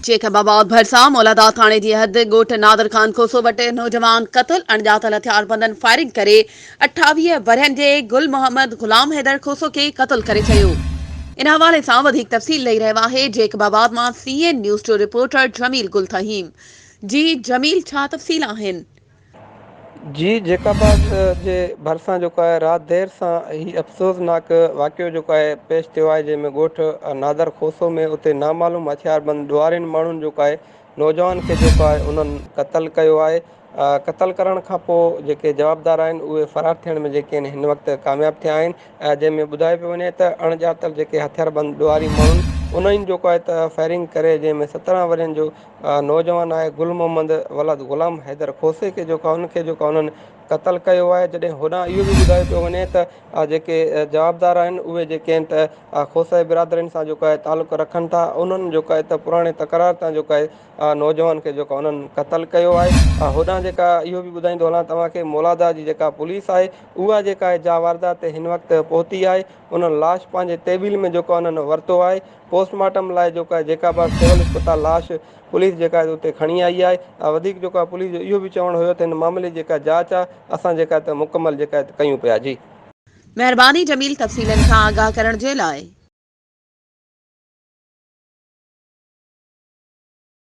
Jacob آباد ڀرسان مولاداد ٿاڻي جي حد ڳوٺ نادر خان کوسو وٽ نوجوان قتل اڻڄاتل هٿياربندن فائرنگ ڪري اٺاويهه ورهين جي گل محمد غلام حيدر کوسو کي قتل ڪري ڇڏيو ان حوالي سان وڌيڪ تفصيل ڏئي رهيو آهي جيڪب آباد مان سي اين نيوز جو رپورٽر جميل گل تھيم جي جميل ڇا تفصيل آهن جي جيڪب جي ڀرسان جيڪو آهي رات دير سان هي افسوسناڪ واقعو جيڪو آهي پيش ٿيو آهي جنهن ۾ ڳوٺ نادر کوسو ۾ اتي نامعلوم هٿيار بند ڏوهارين ماڻهن جيڪو آهي نوجوان کي جيڪو آهي انهن قتل ڪيو آهي قتل ڪرڻ کان پوء جيڪي جوابدار آهن اهي فرار ٿيڻ ۾ جيڪي آهن هن وقت ڪامياب ٿيا آهن جنهن ۾ ٻڌايو پيو وڃي ته اڻ ڄاتل جيڪي هٿيار بند ڏوهاري ماڻهن انهن جيڪو آهي ته فائرنگ ڪري جنهن ۾ سترهن ورهين جو اها نوجوان آهي گل محمد ولد غلام حيدر کوسي کي جيڪا ان کي جيڪا انهن قتل ڪيو آهي جڏهن هوڏانهن اهو به ٻڌايو پيو وڃي ته اها جيڪي جوابدار آهن اهي جيڪي آهن ته اها کوسائي برادرين سان جيڪو آهي تعلق رکن ٿا انهن جيڪو آهي ته پراڻي تڪرار تان جيڪو آهي اها نوجوان کي جيڪا انهن قتل ڪيو آهي اها هوڏانهن جيڪا اهو به ٻڌائيندو هلان توهان کي مولاداء جي جيڪا پوليس آهي اها جيڪا آهي جا واردات تي هن وقت پهتي آهي انهن لاش پنهنجي تحويل ۾ جيڪو انهن ورتو آهي، پوسٽ مارٽم لاء جيڪو آهي جيڪا به سول اسپتال لاش پوليس جيڪا آهي اتي کڻي آئي آهي ۽ وڌيڪ جيڪو آهي پوليس جو اهو به چوڻ هيو ته هن معاملي جيڪا جاچ آهي اسان جيڪا آهي ته مڪمل جيڪا آهي ته ڪيون پيا جي. مهرباني جميل تفصيلن کان آگاهه ڪرڻ جي لاء.